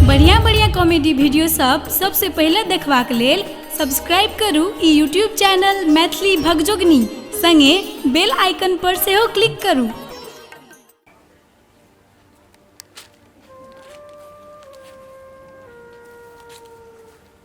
बढ़िया बढ़िया comedy video सब सबसे पहले देखबाक लेल सब्सक्राइब करू ई यूट्यूब चैनल मैथिली भगजोगनी संगे बेल आइकन पर सेहो क्लिक करू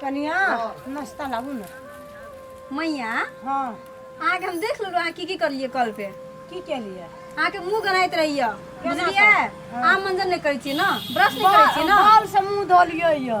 कनिया नाश्ता लाबू ना मैया हाँ अहाँके हम देख लेलहुँ अहाँ की की करलियै कल पे की केलिए अहाँके मुँह गनाइत रहियै बुझलियै अहाँ मंजन नहि करै छियै ने ब्रश नहि करै छियै ने बाल से मुंह धोलिए ये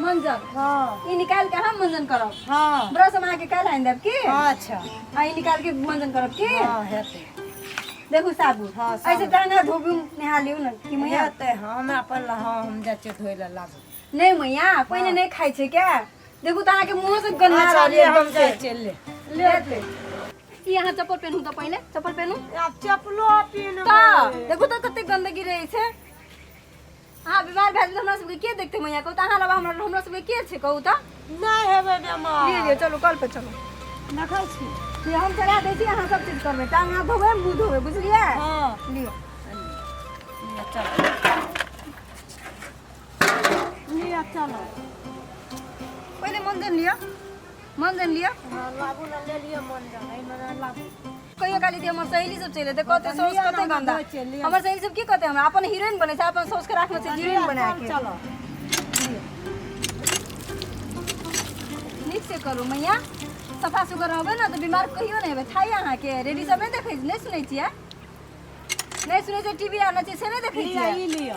मंजन हाँ ई निकाल के हम मंजन करब हाँ ब्रश हम आके काल्हि आनि देब की हाँ अच्छा आ ई निकाल के मंजन करब की हाँ हेतै देखू साबुन हाँ, साबुन। ऐसे दाना धोबी नहा लियौ ने कि मैया हेतै हाँ हम अपन ला हाँ हम जाइ छियै धोय लए लाबू नहीं मैया पहिने नहीं खाइ छै क्या देखू तऽ अहाँके मुँह से गन्दा अच्छा रहल ले हम एकदम जाइ से छियै ले लेते ई अहाँ चप्पल पेनहू तऽ पहिले चप्पल पेनहू आब चपलो पीन तऽ देखू तऽ कते गन्दगी रहै छै अहाँ बीमार भए जेबै हमरा सबके के देखते मैया कहू तऽ अहाँ लबा हमरा हमरा सबके के छै कहू तऽ नहि हेबै लिअ बेमार लिअ चलू कल पर चलू देखै छी से हम चला दै छी अहाँ सब चीज करबै टांग हाथ धोबै मुँह धोबै बुझलियै हँ लिअ लिअ चलू लिअ चलू पहिले मञ्जन लिअ मञ्जन लिअ हँ, लाबू ने ले लिअ मन जान एहिमे ने लाबू कहियो काली दी हमर सहेली सब चले ते कहते सौस कते गंदा हमर सहेली सब की कहते हमरा अपन हीरोइन बने छै अपन सौस के राखना छै हीरोइन बना के चलो नीक से करू मैया सफा सुगर रहबै ने तऽ बीमार कहियो नहि हेबै थाइ अहाँके रेडी सब नहि देखै नहि सुनै छियै नहि सुनै छियै टीवी आर नहि छै से नहि देखै छियै ई लियो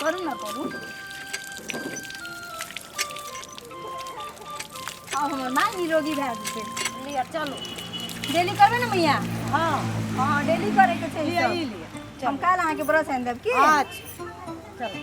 करू ना करू अब हमर माँ निरोगी भए जेतै लिअ चलू डेली करबै ने मैया हाँ हाँ डेली करैके छै लिअ ई ई सब। लिअ हम काल्हि अहाँके ब्रश आनि देब की अच्छा चलू